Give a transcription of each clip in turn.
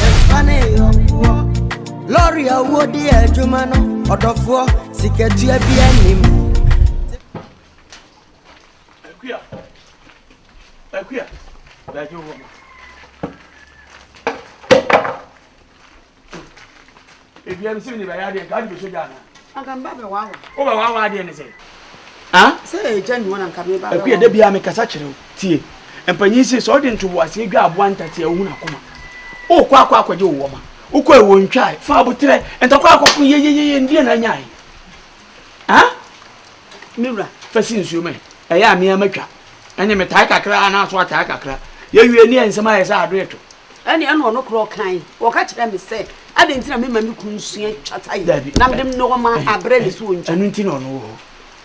Yɛmfa ne yɔnkoɔ. Lɔre a wodi adwuma no, ɔdɔfoɔ, sikatua bi anim. Akuya, akuya, dagye wɔ hɔ. Ebia me sɛ me ne bɛyɛ adeɛ nka wode bɛsɔ gya anaa? Anka me ba bɛwaawa. Wo ba waawa adeɛ ne sɛ? Ah? Sɛ ɛgya nnuwa na nka me ba bɛwaawa. Akuya da biara mekasa kyerɛ wo tie. Mpanyin se sɛ ɔde ntoboaseɛ dwa aboa ntate a ohun akoma. Wokɔ akɔ akɔgye wo wɔma. Wokɔ ɛwɔ ntwa fa abotrɛ ntakɔ akɔko yeyeyeye ndeɛ na anyae. Ah? Me wura. Fa si nsuo mɛ. Ɛyɛ a meɛ matwa. Ɛne metae kakra anaa so atae kakra. Yɛwie ne nsɛm ayɛ sɛ adoɛ to. Ɛnneɛ ɛna ɔno koraa ɔkae, ɔka kyerɛɛ me sɛ, Adɛn nti na memma me kunu nsua twata yi, na mede nnoɔma abrɛ ne sɛ ɔnkyi? Ɛno nti na ɔno wɔ hɔ.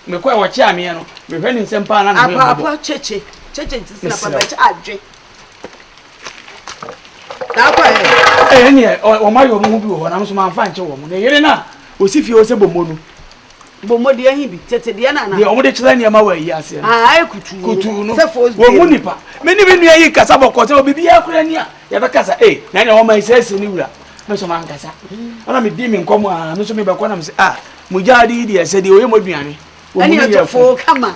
Mekɔɛ wɔkyeaa meɛ no, mehwɛ ne nsam paa na ne ho yɛ mmɔbɔ. Apaapa kyekye, kyekye nti sɛ na papa bɛkyɛ adwe. Daakɔɛ. Ɛnneɛ wɔn ayɛ wɔn ho bi wɔ hɔ, nanso mamfa ankye wɔn. Ne yere no a ɔsi fie hɔ sɛ bɔmmɔ no, Bɔmmɔde ahi bi tete deɛ nana. Deɛ wɔn de kyerɛ nneɛma wɔ ayi aseɛ no. Aa ayɛ kutuu. Kutuu no. Sɛ fos bie. Wɔn mu nipa. Me ne me nua yi kasa bɔkɔ sɛ obi bi akura ni a yɛbɛkasa ee na ɛna wɔn ayi sɛ ne wura me nso man kasa. Ɛna me di me nkɔm aa me nso me bɛkɔ na me sɛ ah mo gya adi yi deɛ sɛ deɛ oyɛ mo aduane. Ɛne ɛtɔfo kama.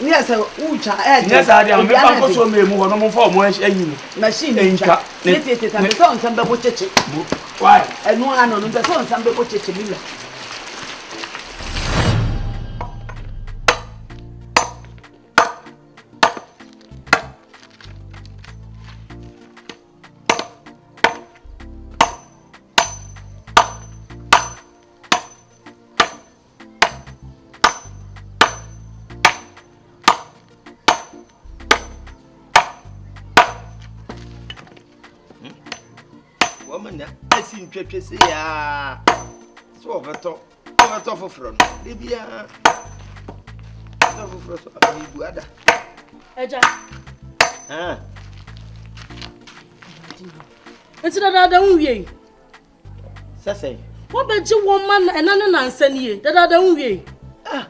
Nyɛ sɛ wotwa ɛɛden. Nyɛ saa deɛ ame ba nkɔ so ɔmɛ mu hɔ no ɔmfa ɔmo ayi no. Machine no twa. Ne tie tie ta mpɛ sɛ ɔnsɛm bɛbo kyekye. Mo why? Ɛno ara no no mpɛ sɛ ɔnsɛm bɛbo kyekye mi wura. wɔma na asi ntwatwe sɛ yɛa sɛ wɔbɛtɔ wɔbɛtɔ foforɔ no da biara tɔ foforɔ so amebu ada agya nti dadaada wo wiei Sɛ sɛn? Wobɛgye wo mma na ɛna ne nansa nie dadaada wo wiei. Ah!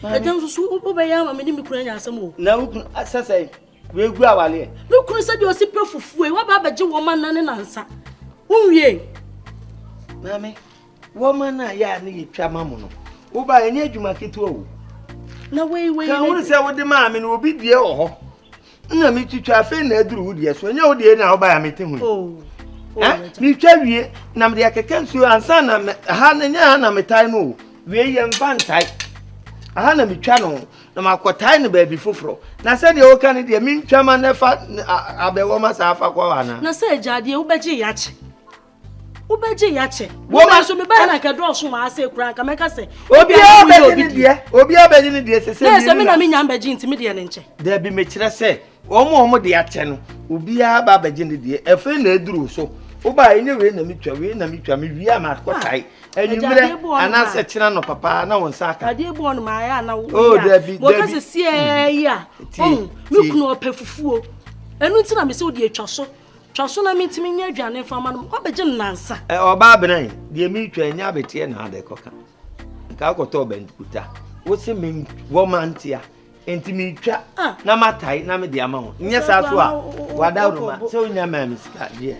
Ɛgya nso so wobɛyɛ ama me ne me kunu anya asɛm o. Na wo kunu sɛ sɛn? Wegu awaleɛ. Me kunu sɛ deɛ ɔsi pɛ fufuo yi waba abɛgye wo mma na ne nansa wo wiei. Maame, wɔma no a yɛ a ne yɛtwa ma mo no woba ɛnyɛ adwuma ketewa o. Na wei wei. Ka wone sɛ wode maa me no obi dua wɔ hɔ. na metwitwa afei na aduru wo deɛ so ɛnyɛ wo deɛ na wobaeɛ a mete ho yi oh, oh, eh, metwa wie na mede akeka nsuo ansa na ha no nyɛ ha na metae no o wei yɛmfa ntae aha na metwa no na makɔtae no baabi foforɔ na sɛdeɛ woka no deɛ mentwa ma no fa abɛwɔ ma saa fa kɔ ana na sɛ agya deɛ wobɛgye yɛakye wobɛgye yɛ akyɛ woma nso meba yɛ na nka dɔɔso ma asɛ kura nka mɛka sɛ obiara bɛgye ne deɛ obiara bɛgye ne deɛ sɛ sɛ mmienu na sɛ me na menya mbɛgye nti me deɛ ne nkyɛ daabi mekyerɛ sɛ wɔn a wɔn de akyɛ no obiara ba abɛgye ne deɛ afei na aduru so wobaa ɛnyɛ wei na metwa wei na metwa mewie a makɔtae ah, anwummerɛ anaasɛ kyena no papa na wo nsa aka adeɛ bɔɔ no maayɛ ana oh, dabi wɔka sɛ siɛɛ yi a mm. me kunu ɔpɛ fufuo ɛno nti na mesɛ wode atwa so Twa so na mintumi nyɛ aduane mfa mma no ma wabɛgye no nnansa. Ɔbaabena yi, deɛ meretwa nyɛ abeteɛ na ade kɔka. Nka wokɔtɔɔ bankuta. Wo se me wɔ ma ntea. Enti meretwa ah. na matae na mede ama wo. Nyɛ saa so a, wada roma sɛ wonya maa me sika deɛ.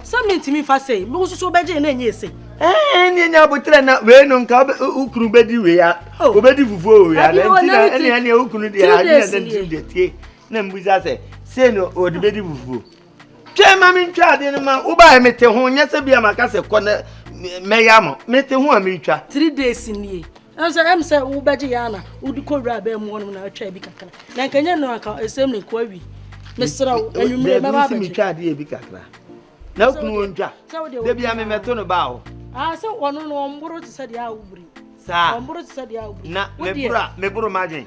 Sɛ mentumi mfa sei, me wo soso wobɛgye na ɛnyɛ sei. Ɛɛ ne nya abotrɛ na wei no nka wokunu bɛdi wei a wobɛdi oh. fufuo wei a na nti na ɛne ɛne wokunu deɛ adeɛ na nti deɛ tie. na mbusa sɛ sei na ɔde bɛdi fufuo twɛn ma mentwa adeɛ no ma wobaɛ mete ho nyɛ sɛ bia maka sɛ kɔ na mɛyɛ ama mete ho a meretwa three days nie ɛsɛ ɛm sɛ wobɛgye yɛ ana wode kɔ wura abɛɛ mu hɔnom na atwa bi kakra na nka nyɛ no anka ɛsɛm ne kɔ awi mesrɛ wo anwummere mɛba abɛgye metwa adeɛ bi kakra na wokunu wɔ ntwa da bia memɛto no baa hɔ ah, sɛ ɔno no ɔmboro te sɛ deɛ a wobiri saa na meboro a meboro magyen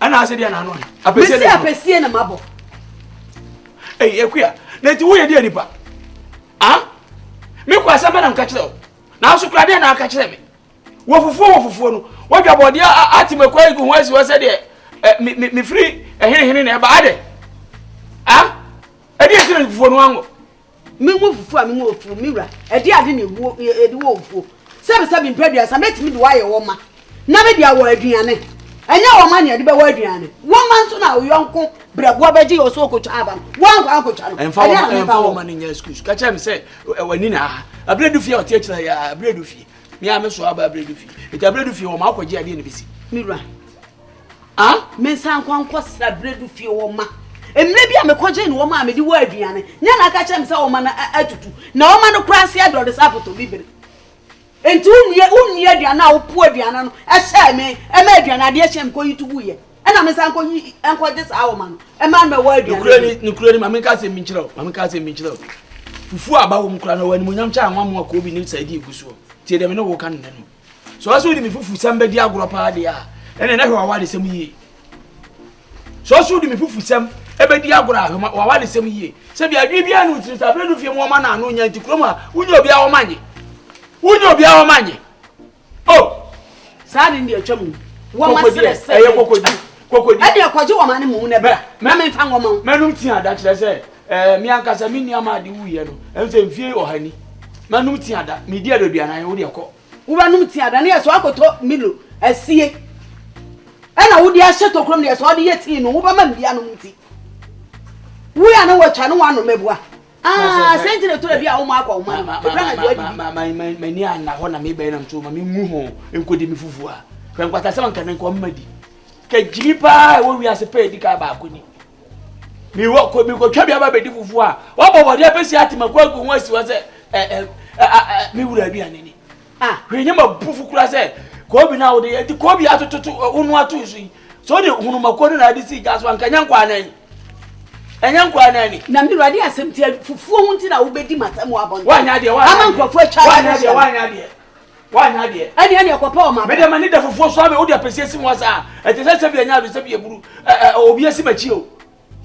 ɛna ase deɛ n'ano yɛ. mesi apɛsie na ma bɔ. eyi ekuya na eti woyɛ deɛ nipa ah mi kɔ asɛm bɛ na nka kyerɛ o na aso kura deɛ na aka kyerɛ mi wɔ fufuo wɔ fufuo no wadwa bɔdeɛ ati ma kɔ egu ho asi hɔ sɛ deɛ ɛ mi mi mi firi ɛhenehene na ɛba adɛ ah ɛdi esi na fufuo no ango. Me nwa ofufuo a me nwa ofuo, me wura, ɛde ade na ebuo ɛde wɔ ofuo. Sɛbisɛbi mpɛduasa mɛtumi de wayɛ wɔma na me de awɔ aduane. Ɛnyɛ wɔma na ɛde bɛwɔ aduane. Wɔma nso na ɔyɔnko brɛboɔ bɛgye yɛ ɔsɛ ɔkɔtwa aba no. Wɔankɔ ankɔtwa no. Ɛmfa wɔma ɛmfa wɔma no nyɛ excuse. Ka kyerɛ no sɛ w'ani na aha. Abirɛ du fie a ɔte akyire yɛ abirɛ du fie. Me a me so aba abirɛ du fie. Nti abirɛ du fie wɔma akɔgye adeɛ na bɛsi. Me wura, Ah? Mensan nkɔ nkɔsra Bredu fie wɔn mma. Mmerɛ bi a mekɔgyee ne wɔn a mede wɔ aduane, nyɛ na aka kyerɛ me sɛ wɔn mma no atutu, na wɔn mma no koraa se adɔre sɛ apotobibire. Enti wonua wonni aduane a wopo aduane no hyɛɛ me, ɛma aduane adeɛ hyɛɛ me kɔyi to guiɛ. Ɛna mensan nkɔyi nkɔgye saa wɔn mma no, ɛma no mɛwɔ aduane. Nokorɛ ni, nokorɛ ni, ma menka asɛm bi nkyerɛ wo, ma menka asɛm bi nkyerɛ wo. Fufuo a aba wɔ mu koraa no, ɛwɔ animuonyam kyɛ anwa mo a koobi ne sɛɛdi gu soɔ. Tie deɛ me ne wo reka no nnɛ no. Sɛ ɔsɛ wode me fufusɛm bɛdi agorɔ paa deɛ a ɛnna na hwɛ w'awaresɛm yie sɛ ɔsɛ wode me fufusɛm ɛbɛdi agorɔ a hwɛ w'awaresɛm yie sɛ bia adwene biara ne wotiri sɛ aberɛ no fie mu ɔma no ano nya nti kurom a wonya obiara wɔma nye wonya obiara wɔma nye o oh! saa ne deɛ atwam no wɔma serɛ sɛ ɛyɛ kɔkɔdi kɔkɔdi ɛdeɛ kɔgye wɔma ne mu na bra na memfa nwɔma wo mɛnom tia da kyerɛ sɛ Ɛɛ, me ankasa me nua maa de wuiɛ no, ɛno sɛ mfie ɔha ni. Manom tea da, medi aduaduanan, wo deɛ kɔ. Wobɛnom tea da no yɛ sɛ woakɔtɔ Milo asie ɛna wode ahyɛ tokuro mu no yɛ sɛ wode yɛ tea no wobɛma me bi anom nti wei a ne wɔatwa ne woanom abua sɛ nti na tura bi a woma akɔ woma no ɛkura na duadidi m'ani anna hɔ na mebɛn nam so ma mengu ho nkɔdi me fufuo a hwɛ nkwata sɛ manka ne nkɔmma di kagyiri paa ɛwɔ wiase pɛ ɛdi ka baako ni mewɔ kɔ mekɔtwa bi aba bɛdi fufuo a wɔbɔ bɔdeɛ bɛsi atemaku agu ho asi hɔ sɛ me wura aduane ni ah, hwɛ nyɛ ma bu fo kora sɛ koobi no a wode yɛ nti koobi atototo wo no ato so yi sɛ wode hunumakuo no na ade sii gya so anka ɛnyɛ nkɔ anan ɛnyɛ nkɔ anan ni. na mewura de asɛm tia fufuo ho nti na wobɛdi matam wɔ abɔnten ama nkurɔfoɔ atwa woanyɛ deɛ woanyɛ deɛ woanyɛ adeɛ ɛdeɛ deɛ kɔpɛ ɔma bra mede mani da fufuo so ame wode apɛsie si ho asa a ɛte sɛ sɛ bi ɛnyɛ ade sɛ bi ɛburu obi asi makyi o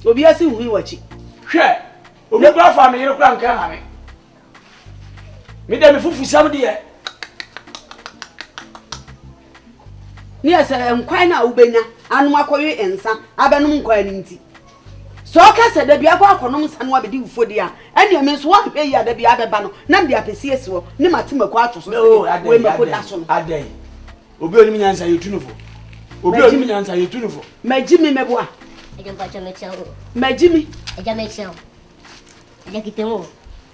obi asi hui wakyi hwɛ obi kora afa me yere kora nka ha me mede me fufusɛm deɛ Ne yɛ sɛ nkwan no a wobɛnya anom akɔwe nsa abɛnom nkwan no nti. Sɛ ɔka sɛ da biara kɔ akɔnom nsa no abɛdi wufodi a, ɛnneɛ me nso woanhwɛ yie a da biara bɛba no na mede apɛsi asi hɔ ne mate mako ato so sɛdeɛ wei mako da so no. Adɛn? Obi a onim nyansa yɛtu no fo. Obi a onim nyansa yɛtu no fo. Magyi mi mɛboa. Agya mpakyɛ mekyia wo. Magyi mi. Agya mekyia wo. Agya kita mu o.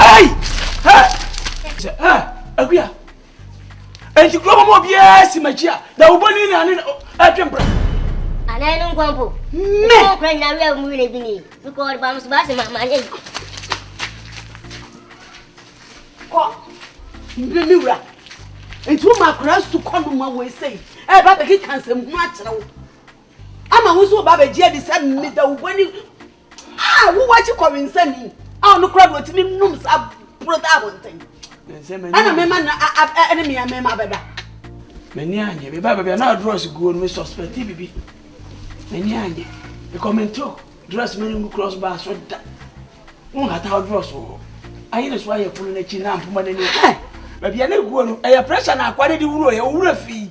Hey! Hey! Sɛ ɛ akuya nti kuro bɔ mu obiara si m'akyi a na wobɔ ni na ne ɛtwe mpra. Anaa ɛno nkwa mpo. Me. Ɛkɔ kura nyina wia mu wina bi ni. Mekɔ ɔde ba musu baasi ma ma ne. Kɔ. Mbi mi wura. Nti wo ma akora su kɔ no ma wo esei. Ɛ ba bɛ ki kansɛm ho akyerɛ wo. Ama wo nso woba abɛgye adi sɛ me Dawubɔni a wowɔ akyi kɔwensani a ɔno koraa na ɔtumi nom saa boro taa abɔnten. Ɛna mema no ɛne me mema bɛda. M'ani anyɛ me ba baabi a na drɔs guo no me suspecti bibi. M'ani anyɛ because mento drɔs mani ngu cross bar so da. Wo nhata wo drɔs wɔ hɔ. Ayɛ ne so ayɛ pono n'akyi na mpoma n'ani. Baabi a na guo no ɛyɛ pressure na akwa no de wuro yɛ owura fii.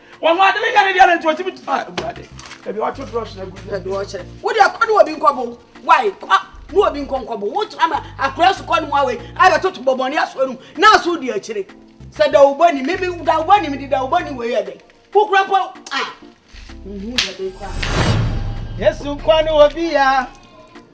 Wɔn ho ade ne nyɛ ne deɛ na nti wɔtumi tu. Ah, Awurade, ebi wɔto drɔs na gu. Ebi wɔkyerɛ. Wo deɛ kɔ ne obi nkɔbo. Wai kɔ ne obi nkɔ nkɔbo. Wo kyerɛ ma akora so kɔ ne mu awei. Ayɛ toto bɔbɔne asoɔ no mu. Na aso di akyire. Sɛ dawubɔ ni. Mimi dawubɔ ni mi di dawubɔ ni wei yɛ dɛ. Kukura mpo ah. Nhu dɛ de kɔ. Yesu kɔ ne obi ya.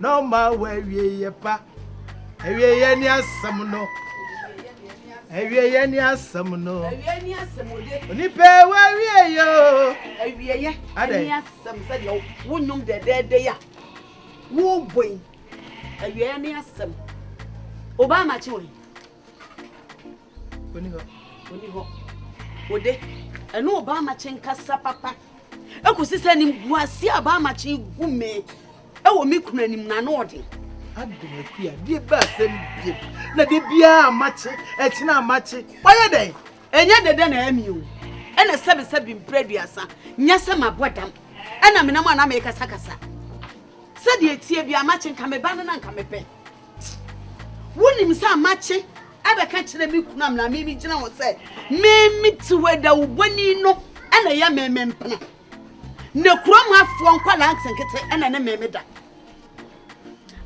Na ɔma wo awieeɛ pa. Awieeɛ ne asɛm no. Awieeɛ ne asɛm no. Onipa wɔ awieeɛ o. Awieeɛ ne asɛm sɛdeɛ wo nnwom dɛdɛɛdɛ yi a wobɔ yi. Awieeɛ ne asɛm. Obama kye wɔn. Oni hɔ. Oni hɔ. Ode, ɛne Obaamakye nkasa papa. Ɛkɔsi sɛ nim guase a Obaamakye gu me ɛwɔ me kunu anim na ano ɔden. Adom akua, deɛ bɛ asɛm bie. Na de biara amakye, ɛkyena amakye. Wayɛ dɛn? Ɛnyɛ dede na ɛmi o. Ɛna sɛbi sɛbi mpere aduasa. Nyɛ sɛ mabɔ dam. Ɛna menam a na mekasakasa. Sɛdeɛ tie bi amakye nka me ba no na nka mepɛ. Wonim sɛ makye abɛka akyerɛ me kunu amena me megyina hɔ sɛ meme te hɔ adawubɔni no na ɛyɛ meme mpena na kurom hafoɔ nkwadaa nketenkete na ne meme da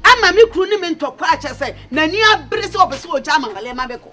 ama me kunu ne me ntɔkwa akyɛ sɛ n'ani abere sɛ ɔpɛ sɛ ɔgya ama wale ma bɛkɔ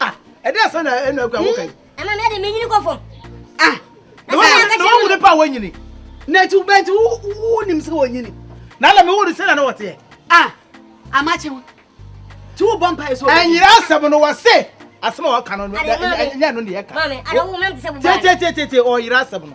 ah ɛdɛ sɛ na ɛna akura wo kan ama me de menyini kɔ fam ah na wahu ne pa a wanyini na akyi bɛnti wonim sɛ wɔnyini na ala mewo no sɛna na wɔteɛ ah amakye ho nti wobɔ mpae so ɛnyerɛ asɛm no wɔ se asɛm a wɔka no nyɛ no ne yɛka tietietietietie ɔyerɛ asɛm no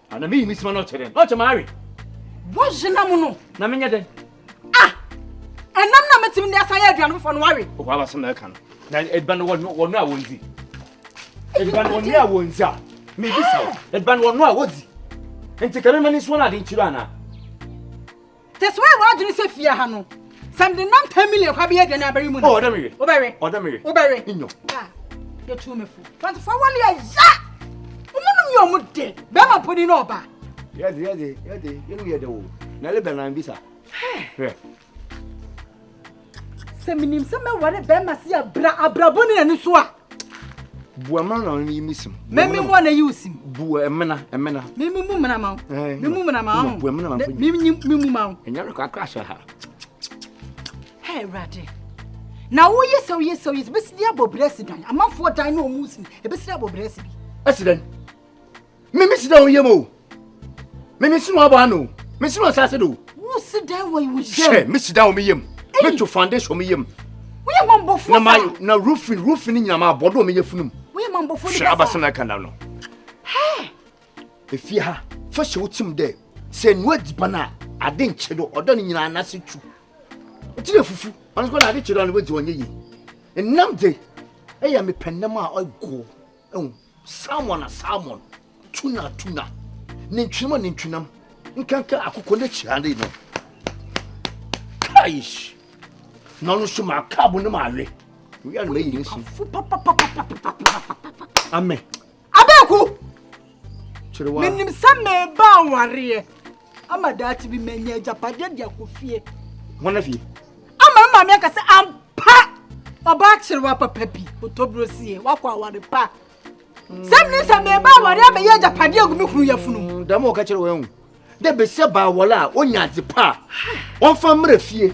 Ah, na meyi me sima na ɔkyɛ dɛn? Na ɔkyɛ m'awe. Wɔhye nam no. Na menyɛ dɛn? Ah, ɛnam na metumi de asan yɛ aduane foforɔ no wawe. Ɔhɔ abasɛm na ɛka no. Na aduane no wɔno a wɔndzi. Aduane no wɔno a wɔndzi a. Mebisa wo, aduane wɔno a wɔdzi. Nti ka mema ne nsuo no ade nkyiri anaa? Te sɛ woayɛ w'adwene sɛ fie ha no, sɛ mede nam Tamile kɔ abɛyɛ aduane abɛwe mu no. Oh, ɔdɛ me we. Wobɛwe. Ɔdɛ me we. Wobɛwe. Nyɔ. Ah, yɛtu me fo. Twenty-four wale ɛya! Ɔmo nom yɛ ɔmo de. Bɛrima mponi na ɔba. Yɛde, yɛde, yɛde, yɛnom yɛde wo. Na ɛle bɛnan bisa. Hwɛ. sɛ menim sɛ mɛware bɛrima se abra abrabɔ ne ani so a bua mmena na ɔno yi mu sim mɛmi mu ɔna yi wo sim bua mmena mmena mɛmi mu mmena ma wo mɛmi mu mmena ma wo bua mmena ma mfo mɛmi mu mu ma wo ɛnyɛ rekɔ akra ahyɛ ha hɛ awurade na woyɛ sɛ woyɛ sɛ woyɛ sɛ bɛsi de abɔ berɛ si dan amanfoɔ dan ne ɔmu si ɛbɛsi de abɔ berɛ si bi ɛsi dan Me me si dan yam o. Me me si no aba ano. Me si no asase do. Wo si dan wɔ wo yam. Hwɛ, me si dan wɔ me yam. Me to foundation wɔ me yam. Wo yɛ mambɔfo sa. Na ma na roofing roofing nyina ma abɔ do me yɛ funum. Wo yɛ mambɔfo ni kasa. Hwɛ abasa na kanda no. Hɛ. Efie ha, fa hyɛ wo tim dɛ sɛ nua diban a ade nkye do ɔdɔ ne nyina na se tu. Ti yɛ fufu, ɔno kɔ na ade kye do ɔno bɛ dzi ɔnyɛ yi. Nnam de, ɛyɛ mepɛ nnam a ɔgoo. Salmon a salmon, tuna a tuna, nantwinam a nantwinam, nkanka a akokɔ ne kyerɛade no. Kaish! Na ɔno nso maa kaabo ne maa we. Wia no mayi ne nsi. Amen. Abeku! Kyerɛ wa. Menim sɛ meba awareɛ. Ama daakye bi manya agyapadeɛ de akɔ fie. Hona fie? Ama me maame aka sɛ ampa ɔbaa kyerewa papa bi otoburo sie wakɔ aware pa. Sɛm ne sɛ meba aware abɛyɛ agyapadeɛ agu me kunu yafunu. Mm, dɛm ɔka kyerɛ wɔn ahu. Dɛ bɛsɛ baa wɔla a ɔnya adze pa a ɔmfa mmerɛ fie.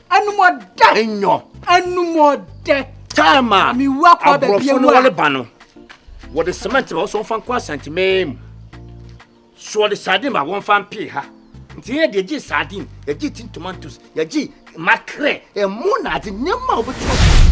anumɔdɛ nyɔ anumɔdɛ time a aborɔfo no wɔle ba no wɔde cement ma wɔsɔn fa nkɔ asantemɛɛ mu so wɔde sardine ma wɔn fa mpee ha nti yɛ deɛ gye sardine yɛgye tin tomatoes yɛgye makrɛ ɛmo na adze nneɛma a wɔbɛtumi